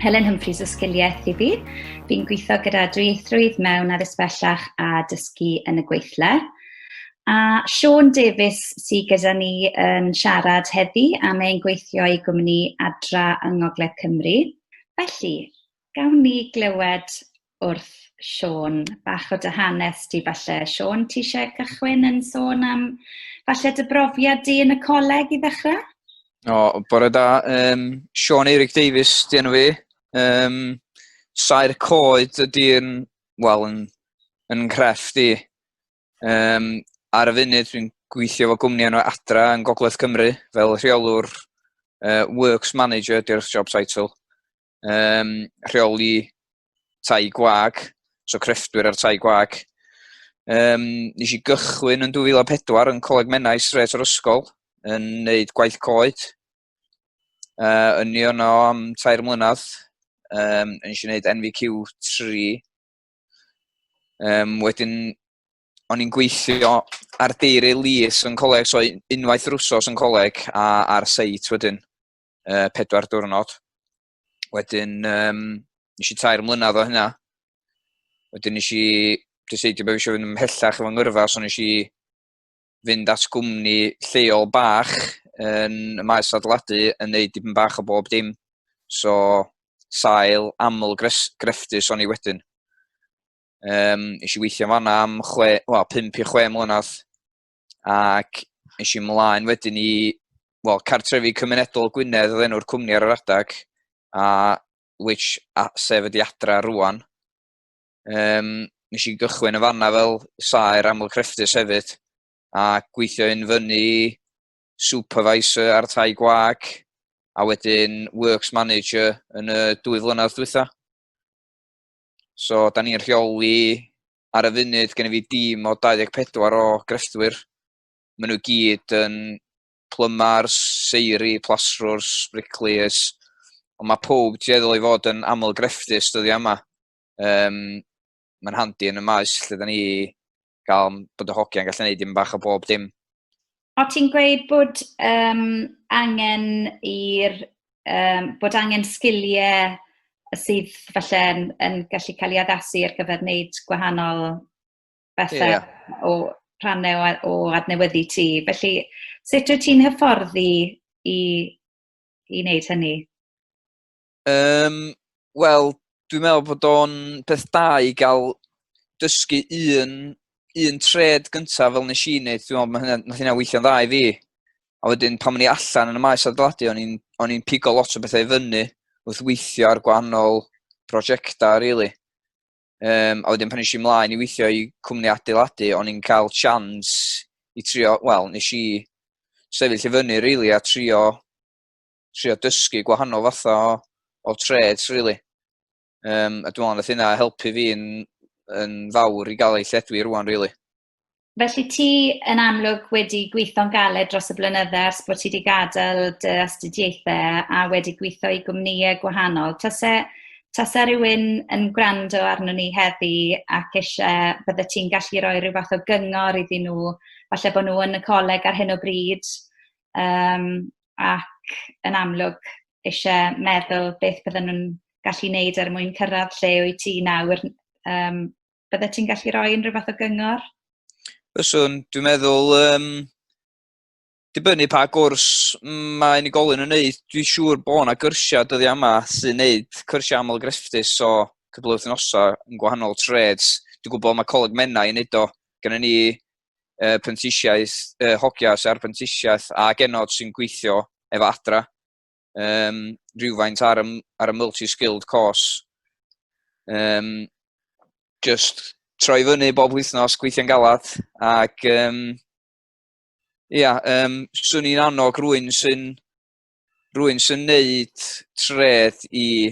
Helen Humphreys o Sgiliaeth i fi. Fi'n gweithio gyda dwyieithrwydd mewn addysg bellach a dysgu yn y gweithle. A Sean Davies sydd gyda ni yn siarad heddi am ein gweithio i gwmni Adra yng Ngogledd Cymru. Felly, Gawn ni glywed wrth Siôn bach o dy hanes di falle. Siôn, ti eisiau cychwyn yn sôn am falle dy brofiad di yn y coleg i ddechrau? O, bore da. Um, Siôn Eirig Davies, di enw fi. Um, Saer Coed ydy'n, wel, yn, yn ngrefft i. Um, ar y funud, dwi'n gweithio fo gwmni enw Adra yn Gogledd Cymru fel rheolwr uh, Works Manager, di'r job title. um, rheoli tai gwag, so crefftwyr ar tai gwag. Um, nes i gychwyn yn 2004 yn Coleg Menai Sret o'r Ysgol yn neud gwaith coed. Uh, yn ni yno am tair mlynedd, um, yn eisiau gwneud NVQ 3. Um, wedyn, o'n i'n gweithio ar deiri lys yn coleg, so unwaith yr wsos yn coleg a ar seit wedyn. uh, pedwar diwrnod. Wedyn, um, nes i tair mlynedd o hynna. Wedyn nes i dyseidio bod eisiau fynd ymhellach efo ngyrfa, so nes i fynd at gwmni lleol bach yn y maes adeiladu yn neud dipyn bach o bob dim. So, sail aml grefftus o'n i wedyn. Um, nes i weithio fanna am chwe, well, 5 i 6 mlynedd. ac nes i mlaen wedyn i well, cartrefi cymunedol Gwynedd oedd enw'r cwmni ar yr adag, a which a, sef ydi adra rwan. Um, nes i gychwyn y fanna fel saer aml crefftus hefyd, a gweithio yn fyny supervisor ar tai gwag, a wedyn works manager yn y dwy flynedd dwytha. So, da ni'n rheoli ar y funud gen i fi dîm o 24 o grefftwyr. Maen nhw gyd yn plymars, seiri, plasrwrs, bricliers, ond mae pob dueddol i fod yn aml grefftus dyddiau yma. Um, Mae'n handi yn y maes lle da ni gael bod y hogiau'n gallu gwneud dim bach o bob dim. O't ti'n gweud bod yym angen i'r yym... bod angen sgiliau sydd falle yn yn gallu cael eu addasu ar gyfer wneud gwahanol bethe... ie. ...o rhannau o a- o adnewyddu ti. Felly, sut wyt ti'n hyfforddi i i wneud hynny? Um, Wel, dwi'n meddwl bod o'n beth da i gael dysgu un, un tred gyntaf fel nes i wneud, dwi'n meddwl, hynna, nath hynna weithio'n dda i fi. A wedyn, pan o'n i allan yn y maes adeiladu, o'n i'n o'n i'n pigo lot o bethau i fyny wrth weithio ar gwahanol prosiectau, really. Um, a wedyn pan eisiau ymlaen i weithio i cwmni adeiladu, o'n i'n cael chans i trio, wel, nes i sefyll i fyny, really, a trio trio dysgu gwahanol fatha o, o trades, really. Um, a dwi'n meddwl yna helpu fi yn, yn fawr i gael ei lledwi rwan, really. Felly ti yn amlwg wedi gweithio'n galed dros y blynydde ers bod ti wedi gadael dy astudiaethau a wedi gweithio i gwmnïau gwahanol. Tase, tase rhywun yn gwrando arno ni heddi ac eisiau bydde ti'n gallu rhoi rhyw fath o gyngor iddyn nhw, falle bod nhw yn y coleg ar hyn o bryd, um, ac yn amlwg isie meddwl beth bydden nhw'n gallu wneud er mwyn cyrraedd lle wyt ti nawr. Yym, byddet ti'n gallu rhoi unrhyw fath o gyngor? Fyswn, dwi'n meddwl, um, dibynnu pa gwrs mae unigolyn yn wneud, dwi'n siŵr bod yna gyrsiau dyddi yma sy'n wneud cyrsiau aml grefftus o cydblyw wythnosau yn gwahanol treds. Dwi'n gwybod mae Coleg Menna yn wneud o, gyda ni uh, prentisiaeth, uh, hogias ar brentisiaeth a genod sy'n gweithio efo adra um, rhywfaint ar y, ar y multi-skilled course. Um, just troi fyny bob wythnos gweithio'n galad ac um, ia, um, swn i'n annog rwy'n sy'n rwy'n sy'n neud treth i,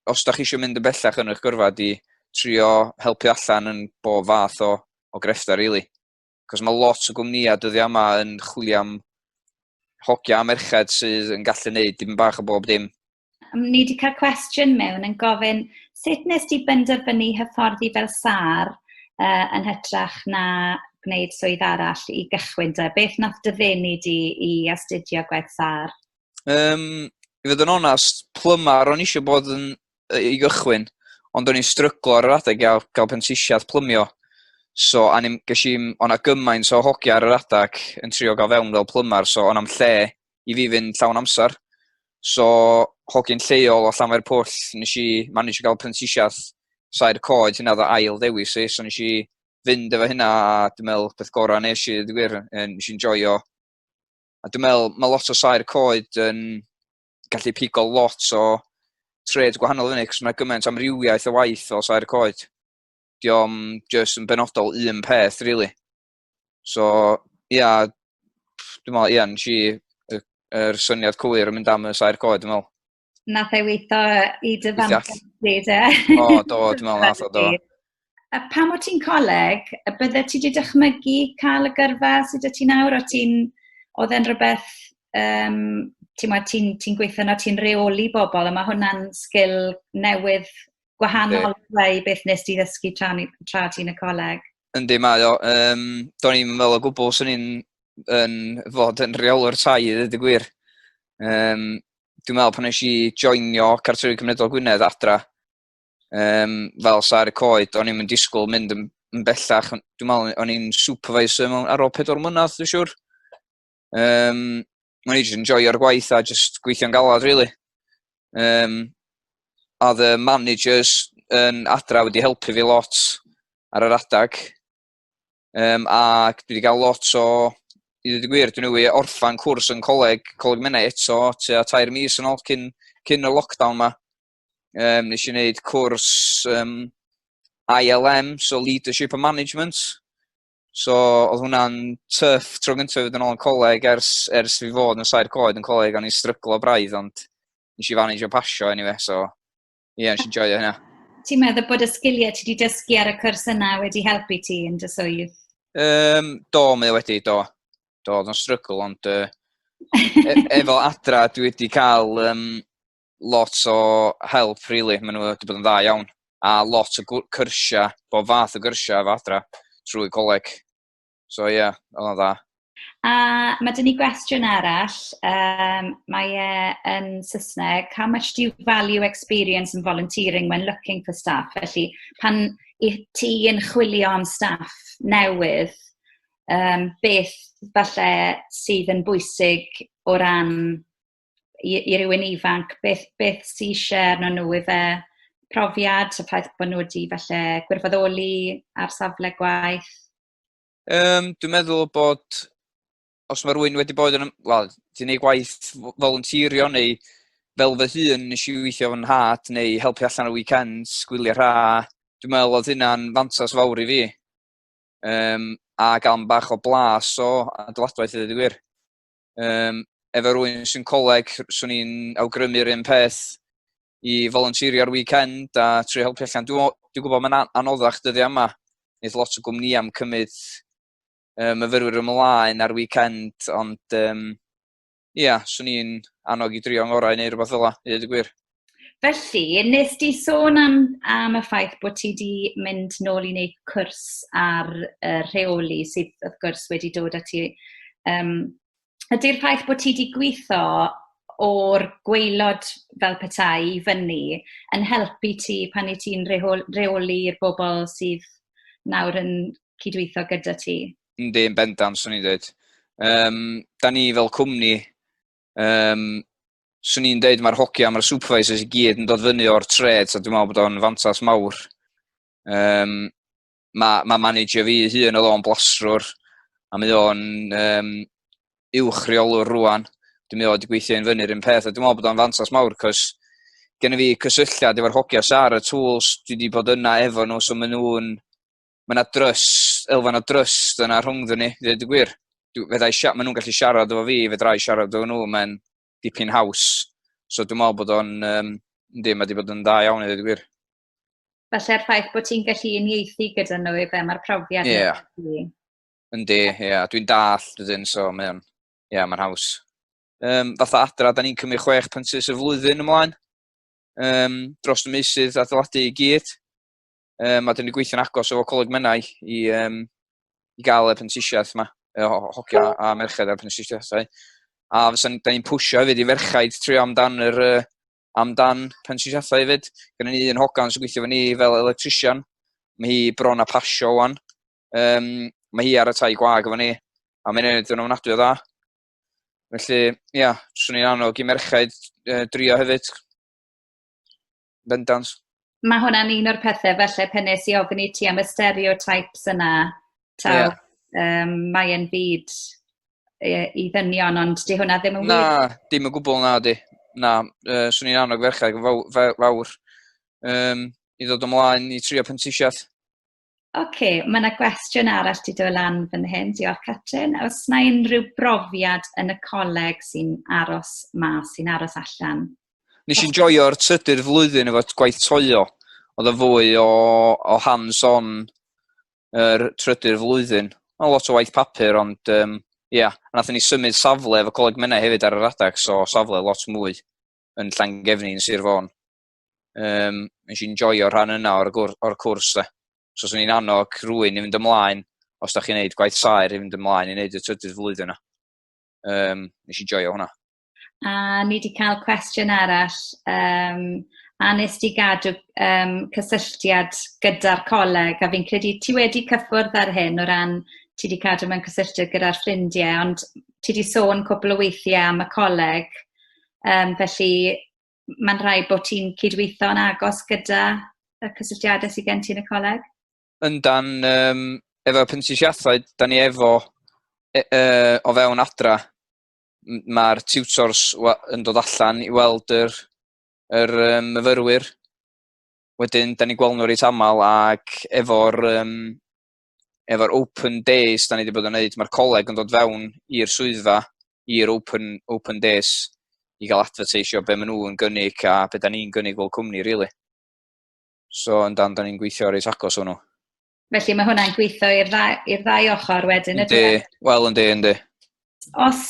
os da chi eisiau mynd yn bellach yn eich gyrfa, di trio helpu allan yn bob fath o, o grefftau, really. Cos mae lot o gwmnïau dyddiau yma yn chwilio am hogia a merched sydd yn gallu neud dim bach o bob dim. Ni wedi cael cwestiwn mewn yn gofyn sut nes di benderfynu hyfforddi fel sar uh, yn hytrach na gwneud swydd arall i gychwyn te? Beth nath dy ddenu di i astudio gwaith sâr? Um, I fod yn onast, plymar o'n eisiau bod yn, i gychwyn, ond o'n i'n stryglo ar yr adeg gael, gael pentisiad plymio. So, a ni'n gysi, o'na gymaint o hogia ar yr adeg yn trio gael fewn fel plymar, so o'na'm lle i fi fynd llawn amser. So, hogyn lleol o Llanfair Pwll, nes i manage gael pentisiad sair coed, hynna oedd ail ddewis i, so nes i fynd efo hynna a dwi'n meddwl peth gorau nes i ddweud gwir, nes i'n joio. A dwi'n meddwl mae lot o sair coed yn gallu pigo lot o tred gwahanol fyny, cos mae gymaint amrywiaeth o waith o sair coed. Diolch yn just yn benodol un peth, really. So, ia, yeah, dwi'n meddwl, ia, yeah, nes i yr syniad cywir yn mynd am y sair coed, dwi'n meddwl. Nath ei weitho i dy fantais di, de? O, do, dwi'n meddwl nath o, do. A pam o ti'n coleg, a bydde ti wedi dychmygu cael y gyrfa sydd y ti nawr, o ti'n... Oedd e'n rhywbeth, um, ti'n ti, ti gweithio na ti'n reoli bobl, a mae hwnna'n sgil newydd gwahanol yeah. i beth nes ti ddysgu tra, tra ti'n y coleg. Yndi, mae o. Um, do'n i'n meddwl o gwbl swn i'n yn fod yn rheolwr tai i ddweud y gwir. Um, dwi'n meddwl pan nes i joinio Cartrefi Cymredol Gwynedd adra, um, fel sa'r coed, o'n i'n mynd disgwyl mynd yn, yn bellach, dwi'n meddwl o'n i'n supervisor mewn ar ôl pedwar mlynedd, dwi'n siwr. Um, o'n i jyst yn joio'r gwaith a jyst gweithio'n galad, really. Um, a the managers yn adra wedi helpu fi lot ar yr adag. Um, ac dwi wedi cael lot o, i ddweud y gwir, dwi'n newydd orffan cwrs yn coleg, coleg menau eto, tua tair mis yn ôl cyn, cyn y lockdown yma. Um, nes i wneud cwrs um, ILM, so Leadership and Management. So, oedd hwnna'n tuff tro gyntaf fod yn ôl yn coleg ers, ers fi fod yn sair coed yn coleg, o'n i'n stryglo braidd, ond nes i fanage o pasio anyway, so Ie, nes i'n joio hynna. Ti'n meddwl bod y sgiliau ti wedi dysgu ar y cwrs yna wedi helpu ti yn dy swydd? Um, do, mae wedi, do. Do, oedd o'n strygl, ond uh, e efo adra dwi wedi cael um, lot o help, really. Maen nhw wedi bod yn dda iawn. A lot o cyrsiau, bod fath o gyrsiau efo adra trwy coleg. So ie, yeah, oedd o'n dda. A mae dyn ni gwestiwn arall, um, mae e yn Saesneg, how much do you value experience and volunteering when looking for staff? Felly, pan i ti yn chwilio am staff newydd, um, beth falle sydd yn bwysig o ran i, i rywun ifanc, beth, beth sy'n eisiau arno nhw i fe profiad, y ffaith bod nhw wedi falle gwirfoddoli ar safle gwaith? Um, dwi'n meddwl bod os mae rhywun wedi bod yn, wel, ti'n ei gwaith volunteerio neu fel fy hun nes i weithio fy nhad neu helpu allan o weekends, gwylio rha, dwi'n meddwl oedd hynna'n fantas fawr i fi. Um, a gael bach o blas o adeiladwaith i ddweud gwir. Um, efo rwy'n sy'n coleg, swn i'n awgrymu'r un peth i volunteerio'r weekend a trwy helpu allan. Dwi'n dwi gwybod mae'n anoddach dyddi yma. Nid lot o gwmni am cymryd um, myfyrwyr ymlaen ar weekend, ond um, ia, swn i'n annog i drio ngorau neu rhywbeth fel yna, i ddweud y gwir. Felly, wnest ti sôn am am y ffaith bod ti 'di mynd nôl i wneud cwrs ar, yy, rheoli sydd, wrth gwrs, wedi dod â ti... Yym, ydy'r ffaith bod ti 'di gweithio o'r gwaelod fel petai i fyny yn helpu ti pan wyt ti'n rehol- rheoli'r bobl sydd nawr yn cydweithio gyda ti? Yndi, yn bendant, 'swn i'n dweud. Yym, dan ni fel cwmni Um, swn i'n deud mae'r hogia, mae'r supervisors i gyd yn dod fyny o'r treds a dwi'n meddwl bod o'n fantas mawr. Um, mae, mae manager fi hun oedd o'n blasrwr a mae o'n um, uwch reolwr rwan. Dwi'n meddwl wedi gweithio yn fyny'r un peth a dwi'n meddwl bod o'n fantas mawr cos gen i fi cysylltiad efo'r hogia sar y tools dwi wedi bod yna efo nhw so maen nhw'n ma' 'na drust elfen o drust yna rhwngddon ni ddeud y gwir. Dw fedrai sia- ma' nhw'n gallu siarad efo fi fedrai siarad efo nhw mae'n dipyn haws so dwi'n meddwl bod o'n um, yndi mae 'di bod yn dda iawn i ddeud y gwir. Felly'r ffaith bod ti'n gallu unieithu gyda nhw i fe mae'r profiad Ie. Yeah. Yndi, ie, yeah. dwi'n dall dydyn, so mae o'n, ie, yeah, mae'n haws. Um, fatha adra, da ni'n cymryd chwech pensus y flwyddyn ymlaen, um, dros y meusydd adeiladu i gyd. Um, a dyn ni gweithio'n agos efo Coleg Menai i, um, i gael y prentisiaeth yma, y hocio a merched a'r prentisiaethau. A fysa ni, da ni'n pwysio hefyd i ferchaid trio amdan yr, uh, amdan prentisiaethau hefyd. Gynnu ni un hogan sy'n gweithio fy ni fel electrician. Mae hi bron a pasio o'n. Um, mae hi ar y tai gwag efo ni. A mae'n ei wneud yn ofnadwy o dda. Felly, ia, swn i'n annog i merchaid uh, drio hefyd. bendant. Mae hwnna'n un o'r pethau, felly, pen nes i ofyn i ti am y stereotypes yna, ta, yeah. um, mae'n byd i ddynion, ond di hwnna ddim yn wir. Na, dim yn gwbl na di. Na, uh, swn i'n annog ferchau fawr, fawr um, i ddod ymlaen i trio pentisiaeth. Ocê, ma' 'na gwestiwn arall 'di dod lan fan hyn. Diolch Catrin. Oes 'na unrhyw brofiad yn y coleg sy'n aros mas, sy'n aros allan? Nes i'n joio'r trydydd flwyddyn efo gwaith toio. Oedd yn fwy o, o hands-on yr trydydd flwyddyn. Oedd lot o waith papur, ond um, ia, yeah, nath ni symud safle efo coleg mynnau hefyd ar yr adeg, so safle lot mwy yn Llangefni yn Sir Fôn. Um, nes i'n joio rhan yna o'r, or cwrs. Da. So, swn i'n annog rwy'n i fynd ymlaen, os da chi'n neud gwaith saer, i fynd ymlaen i neud y trydydd flwyddyn yna. Um, nes i'n joio hwnna. A ni wedi cael cwestiwn arall. Um, a nes di gadw um, cysylltiad gyda'r coleg, a fi'n credu ti wedi cyffwrdd ar hyn o ran ti wedi cadw mewn cysylltiad gyda'r ffrindiau, ond ti wedi sôn cwbl o weithiau am y coleg, um, felly mae'n rhaid bod ti'n cydweithio yn agos gyda y cysylltiadau sydd gen ti yn y coleg? Yndan, um, efo pentisiathau, da ni efo e, e, o fewn adra, mae'r tutors yn dod allan i weld yr, yr um, myfyrwyr. Wedyn, da ni'n gweld nhw reit aml ac efo'r um, efo'r open days da ni wedi bod yn neud, mae'r coleg yn dod fewn i'r swyddfa, i'r open, open days, i gael advertisio be maen nhw'n gynnig a be da ni'n gynnig fel cwmni, rili. Really. So, yn dan, da ni'n gweithio ar ei agos hwnnw. Felly mae hwnna'n gweithio i'r ddau, ddau ochr wedyn, ydy? Wel, yndi, yndi. Os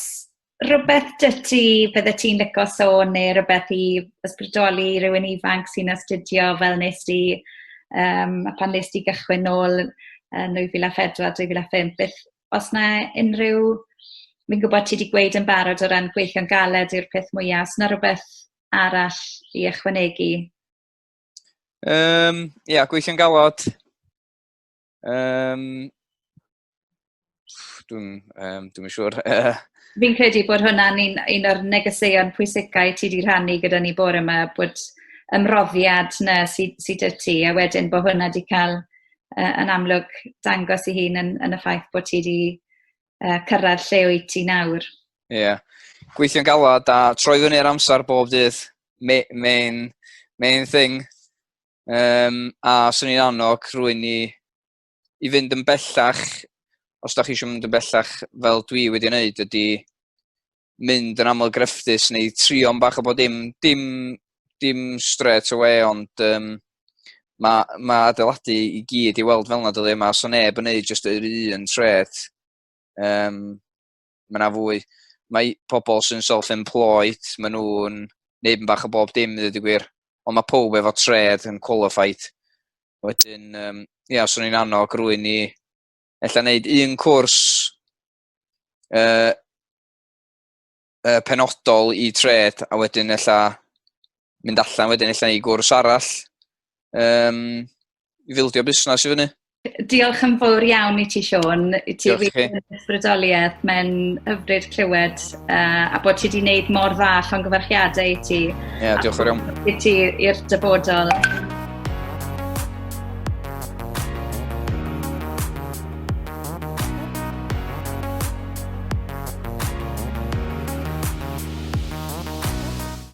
rywbeth 'da ti byddet ti'n licio sôn neu rywbeth i ysbrydoli rywun ifanc sy'n astudio fel wnest ti yym a phan wnest ti gychwyn nôl yn 2004, 2005 beth... oes 'na unrhyw... fi'n gwybod ti 'di gweud yn barod o ran gweithio'n galed yw'r peth mwya', oes 'na rywbeth arall i ychwanegu? Yym ia gweithio'n galed Um, dwi'n um, dwi siŵr. Fi'n credu bod hwnna'n un, un o'r negeseuon pwysicau ti wedi rhannu gyda ni bore yma, bod ymroddiad na sydd sy dy ti, a wedyn bod hwnna wedi cael uh, yn amlwg dangos i hun yn, yn y ffaith bod ti wedi uh, cyrraedd lle o'i ti nawr. Ie. Yeah. Gweithio'n galad a troi fyny ar amser bob dydd. Main, main, main thing. Um, a swn i'n annog rwy'n i i fynd yn bellach, os da chi eisiau mynd yn bellach fel dwi wedi wneud, ydy mynd yn aml grefftus neu trio am bach o bod dim, dim, dim straight away, ond um, mae ma adeiladu i gyd i weld fel yna dydy, mae so neb yn neud jyst yr un tret. Um, mae yna fwy, mae pobl sy'n self-employed, mae nhw'n neud yn bach o bob dim, dweud y gwir, ond mae pob efo tred yn qualified. Wedyn, um, ia, os o'n i'n annog rwy'n ni, ella wneud un cwrs uh, uh, penodol i tred, a wedyn ella mynd allan wedyn ella i gwrs arall, um, i fildio busnes i fyny. Diolch yn fawr iawn i ti, Sean. I ti Diolch wir yn ysbrydoliaeth. Mae'n hyfryd clywed uh, a bod ti wedi gwneud mor dda llongyfarchiadau i ti. Ie, yeah, diolch yn iawn. I ti i'r dyfodol.